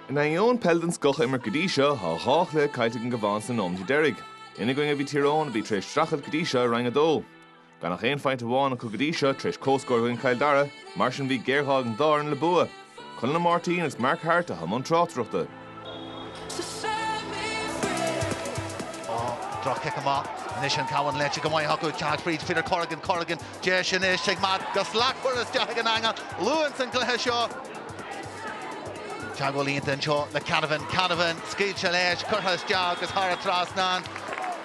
In ainneoin peil den scoth a imirt go dtí seo, tá dhá chluiche caillte ag an gCabhán sna nóimeatí deiridh. Ina gcoinne a bhí Tír Eoghain, a bhí tar éis streachailt go dtí seo i Roinn 2. Gan ach aon phointe amháin acu go dtí seo, tar éis comhscór i gcoinne Chill Dara, mar sin bhí géarghá ag an dá fhoireann le bua. Conall Máirtín agus Mark Harte i mbun na tráchtaireachta. Droch-chic amach anois an Cabhán léite go maith acu, ag teacht fríd Peter Corrigan, Corrigan, deis anois ag Matt go slachtmhar, curtha isteach san eangach, luath san gcluiche seo. Teagmháil iontach anseo le Canavan, Canavan, scaoilte leis, curtha isteach agus thar an trasnán.